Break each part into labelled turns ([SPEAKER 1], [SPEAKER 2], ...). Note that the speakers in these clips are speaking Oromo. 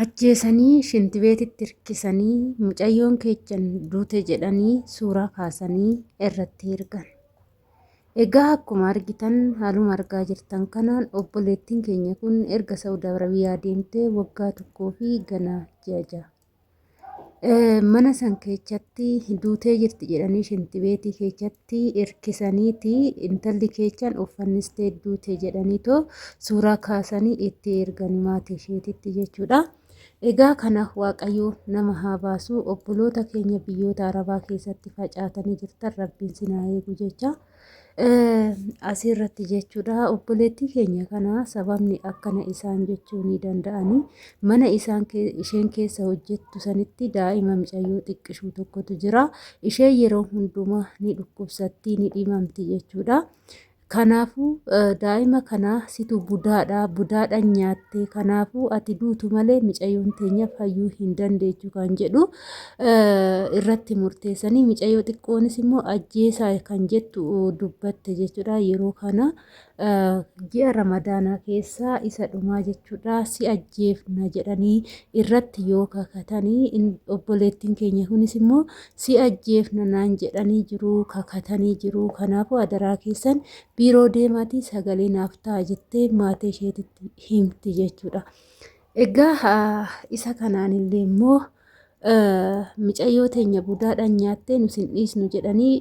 [SPEAKER 1] ajjeesanii shintibeetitti hirkisanii mucayyoon keechan duute jedhanii suuraa kaasanii irratti ergan. Egaa akkuma argitan haaluma argaa jirtan kanaan obboleettiin keenya kun erga Saawud Arabiyaa deemtee waggaa tokkoo fi ganaa ji'a ja'a. mana san keessatti duutee jirti jedhanii shintibeetii keessatti irkisaniiti intalli keessan uffannistee duute jedhaniitoo suuraa kaasanii itti ergani maatii isheetitti jechuudha. Egaa kana waaqayyoo nama haa baasu obboloota keenya biyyoota arabaa keessatti facaatanii jirtan rabbiin sinaa eegu jecha. Asirratti jechuudha obboleettii keenya kana sababni akkana isaan jechuu ni danda'anii mana isaan isheen keessa hojjettu sanitti daa'ima micayyoo xiqqishuu tokkotu jira ishee yeroo hundumaa ni dhukkubsattii ni dhimamti jechuudha. Kanaafuu daa'ima kana situ budaadha budaadha nyaattee kanaafuu ati duutu malee micayyoon teenya fayyuu hin dandeechu kan jedhu irratti murteessanii micayyoo xiqqoonis immoo ajjeesaa kan jettu dubbatte jechuudha yeroo kana ji'a ramadaanaa keessaa isa dhumaa jechuudha si ajjeefna jedhanii irratti yoo kakatanii obboleettiin keenya kunis immoo si ajjeefna naan jedhanii jiru kakatanii jiru kanaafuu adaraa keessan biiroo deemaatii sagalee naaf ta'a jettee maatii isheetitti himti jechuudha. Egaa isa kanaan illee immoo micayyoo teenya budaadhaan nyaattee nu sin dhiisnu jedhanii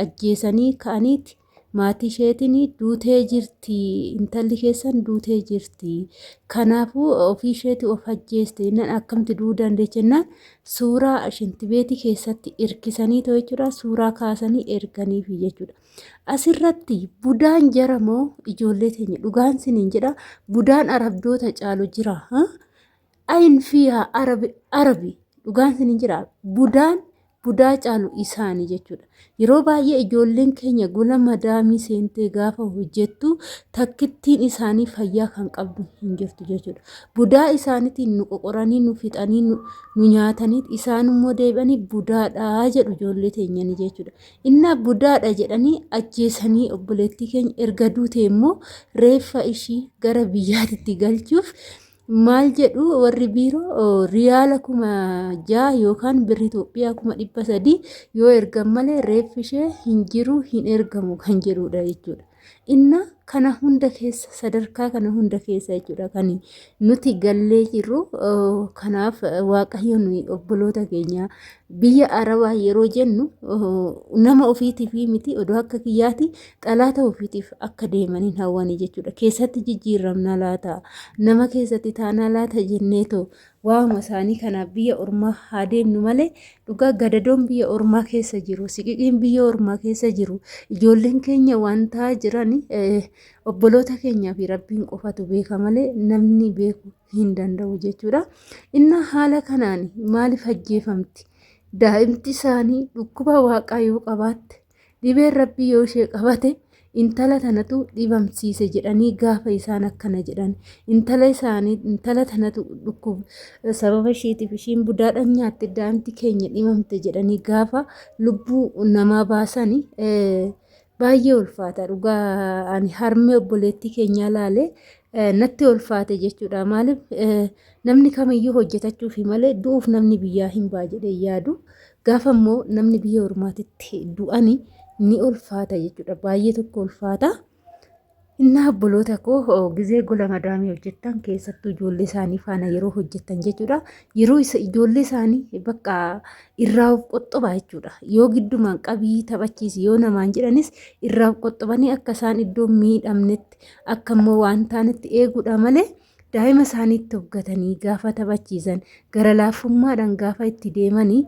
[SPEAKER 1] ajjeesanii ka'aniiti maatii isheetiin duutee jirti intalli keessan duutee jirti kanaafuu ofii isheetii of ajjeeste jennaan akkamti du'uu dandeecha jennaan suuraa shintibeetii keessatti irkisanii too jechuudha suuraa kaasanii erganiifi jechuudha. Asirratti budaan jara moo ijoollee teenya dhugaan siniin jedha budaan arabdoota caalu jira. Ayin fiyaa arabi arabi dhugaan siniin jira budaan budaa caalu isaanii jechuudha. Yeroo baay'ee ijoolleen keenya gola madaamii seentee gaafa hojjettu takkittiin isaanii fayyaa kan qabdu hin jirtu jechuudha. Budaa isaaniitiin nu qoqoranii nu fixanii nu nyaatanii isaanummoo deebi'anii budaadhaa jedhu ijoollee teenyanii jechuudha. Innaa budaadha jedhanii ajjeesanii obboleettii keenya erga duute immoo reeffa ishii gara biyyaatitti galchuuf maal jedhu warri biiroo riyaala kuma ja'a yookaan birri Itoophiyaa kuma dhibba sadii yoo ergan malee reeffi ishee hin jiru hin ergamu kan jedhudha jechuudha. Inna kana hunda keessa sadarkaa kana hunda keessa jechuudha kan nuti gallee jirru kanaaf waaqayyo nuyi obboloota keenya biyya arabaa yeroo jennu nama ofiitiif miti odoo akka kiyyaati xalaata ofiitiif akka deemaniin hawwanii jechuudha keessatti jijjiiramna laata nama keessatti taanaa laata jenneetu Waa'uma isaanii kanaaf biyya ormaa haa deemnu malee dhugaa gadadoon biyya ormaa keessa jiru, siqiqiin biyya ormaa keessa jiru, ijoolleen keenya waan ta'aa jiran obboloota keenyaa fi rabbiin qofatu beeka malee namni beeku hin danda'u jechuudha. Innaa haala kanaan maaliif ajjeefamti? Daa'imti isaanii dhukkuba waaqaa yoo qabaatte Dhibeen rabbii yoo ishee qabate intala tanatu dhibamsiise jedhanii gaafa isaan akkana jedhan intala isaanii intala tanatu dhukkub sababa isheetiif ishiin budaadhaan nyaatte daa'imti keenya dhimamte jedhanii gaafa lubbuu namaa baasani baay'ee ulfaata dhugaa ani harmee obboleettii keenyaa laalee natti ulfaate jechuudha maaliif namni kamiyyuu hojjetachuufi malee du'uuf namni biyyaa hin baa jedhee yaadu Gaafa immoo namni biyya ormaatitti du'ani ni ulfaata jechuudha. Baay'ee tokko ulfaata. Innaa obboloota koo gizee gola madaamii hojjettan keessattuu ijoollee isaanii faana yeroo hojjettan jechuudha. Yeroo ijoollee isaanii bakka irraa of qoxxoba jechuudha. Yoo giddumaan qabii taphachiisi yoo namaan jedhanis irraa of qoxxobanii akka isaan iddoo miidhamnetti akka immoo waan taanetti eeguudha malee daa'ima isaaniitti hoggatanii gaafa taphachiisan gara laafummaadhaan gaafa itti deemanii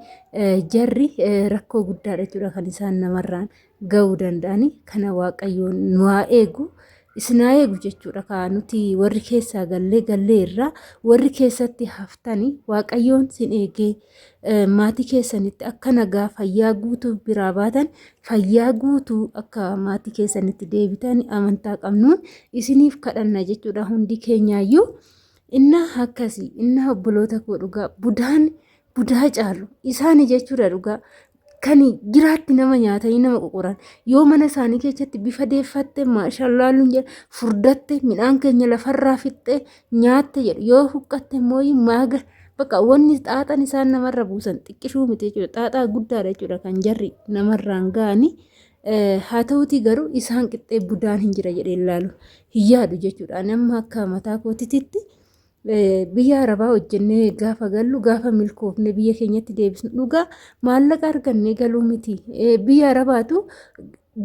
[SPEAKER 1] jarri rakkoo guddaadha jechuudha kan isaan namarraan ga'uu danda'ani kana waaqayyoon nu haa eegu. Isin haa eegu jechuudha kaa nuti warri keessaa gallee gallee irraa warri keessatti haftani waaqayyoon sin eegee maatii keessanitti akka nagaa fayyaa guutuu biraa baatan fayyaa guutuu akka maatii keessanitti deebitan amantaa qabnuun isiniif kadhanna jechuudha hundi keenyaayyuu inna akkasii inna obboloota koo dhugaa budaan budaa caalu isaani jechuudha dhugaa kan jiraatti nama nyaatanii nama qoqoran yoo mana isaanii keessatti bifa deeffatte maashallaa luun jedha furdatte midhaan keenya lafarraa fixxe nyaatte jedhu yoo huqqatte immoo maaga bakka wanni xaaxan isaan namarra buusan xiqqishuu miti jechuudha xaaxaa guddaadha jechuudha kan jarri namarraan ga'anii haa ta'uutii garuu isaan qixxee budaan hin jira jedhee ilaalu hin yaadu jechuudha nama akka mataa kootitti Biyya arabaa hojjennee gaafa gallu gaafa milkoofne biyya keenyatti deebisnu dhugaa maallaqa argannee galuu miti. Biyya arabaatu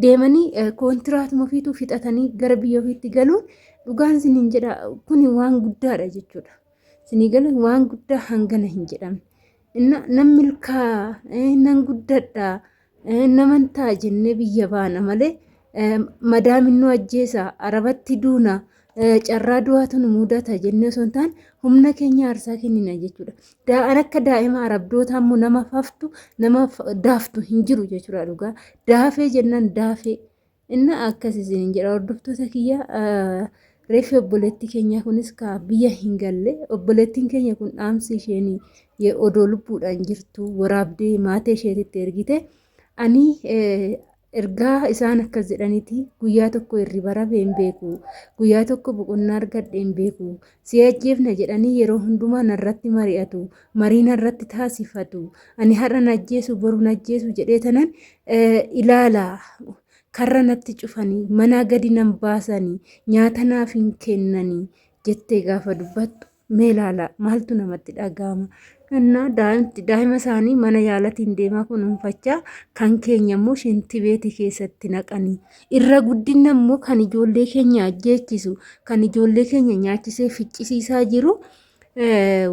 [SPEAKER 1] deemanii kontiraatuma ofiitu fixatanii gara biyya ofiitti galuun dhugaan siniin jedha kuni waan guddaadha jechuudha. Sinii galuun waan guddaa hangana hin jedhamne. Inna nan milkaa nan guddadha. Naman ta'a jennee biyya baana malee madaamin nu ajjeesa arabatti duuna carraa du'aatu nu mudata jennee osoo hin taane humna keenya aarsaa kennina jechuudha. Daa'an akka daa'ima arabdootaa immoo nama faftu nama daaftu hin jiru jechuudha dhugaa. Daafee jennaan daafee Inna akkas isiniin jedha hordoftoota kiyya reefi obboleetti keenya kunis ka biyya hin galle obboleettiin keenya kun dhaamsi isheen odoo lubbuudhaan jirtu waraabdee maatee isheetitti ergite ani ergaa isaan akkas jedhaniiti guyyaa tokko irribara hin beeku guyyaa tokko boqonnaa argadhe hin beeku Si ajjeefna jedhanii yeroo hundumaa narratti mari'atu. Marii narratti taasifatu. Ani har'a na ajjeesu boru na ajjeesu jedhee tanan ilaala. Karra natti cufanii manaa gadi nan baasanii nyaata naaf hin kennanii jettee gaafa dubbattu mee ilaala maaltu namatti dhaga'ama. Innaa daa'ima isaanii mana yaalatiin deemaa kunuunfachaa kan keenya immoo shintibeetii keessatti naqanii. Irra guddinna immoo kan ijoollee keenya ajjeechisu, kan ijoollee keenya nyaachisee ficcisiisaa jiru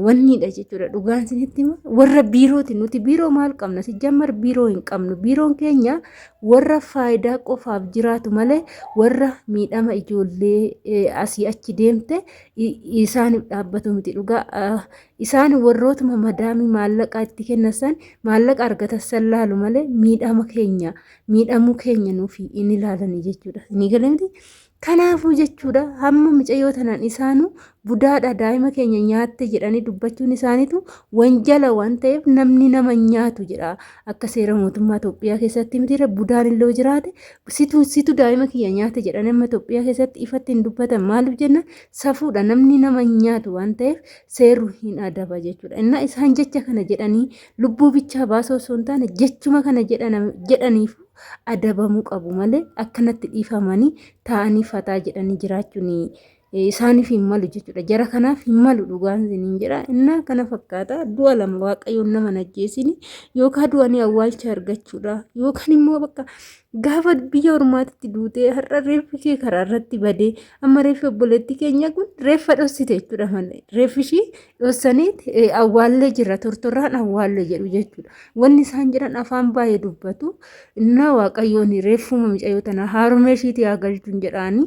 [SPEAKER 1] wanniidha jechuudha. Dhugaan isinitti hima. Warra biirooti. Nuti biiroo maal qabna? Sijjammar biiroo hin qabnu. Biiroon keenya warra faayidaa qofaaf jiraatu malee warra miidhama ijoollee asii achi deemte isaaniif dhaabbatu miti. Dhugaa isaan warrootuma madaamii maallaqaa itti kennasan maallaqa argatassan laalu malee miidhama keenya miidhamuu keenya nuufi in ilaalanii jechuudha. Inni galamti kanaafuu jechuudha hamma micayyoo tanaan isaanuu budaadha daa'ima keenya nyaatte jedhanii dubbachuun isaaniitu wanjala waan ta'eef namni nama nyaatu jedha akka seera mootummaa Itoophiyaa keessatti mitiirra budaan illee jiraate situ situ daa'ima kiyya nyaate jedhanii amma Itoophiyaa keessatti ifatti hin dubbatan maaliif jenna safuudha namni nama nyaatu waan ta'eef seerru hin adaba jechuudha. Innaa isaan jecha kana jedhanii Lubbuu bichaa baasuu osoo hin taane jechuma kana jedhaniif adabamuu qabu malee akkanatti dhiifamanii taa'anii fataa jedhanii jiraachuun isaaniif hin malu jechuudha. Jara kanaaf hin malu dhugaan isiniin jedha. Innaa kana fakkaata du'a lama waaqayyoon nama najjeesini yookaan du'anii awwaalcha argachuudha yookaan immoo bakka gaafa biyya ormaatitti duutee har'a reeffi kee karaa irratti badee amma reeffi obboleettii keenya kun reeffa dhossite jechuudha malee reeffi ishii dhossaniit awwaallee jirra tortorraan awwaalle jedhu jechuudha. Wanni isaan jedhan afaan baay'ee dubbatu. Innaa waaqayyoon reeffuma micayyoo tana haarumee ishiitii haa galchuun jedhaanii.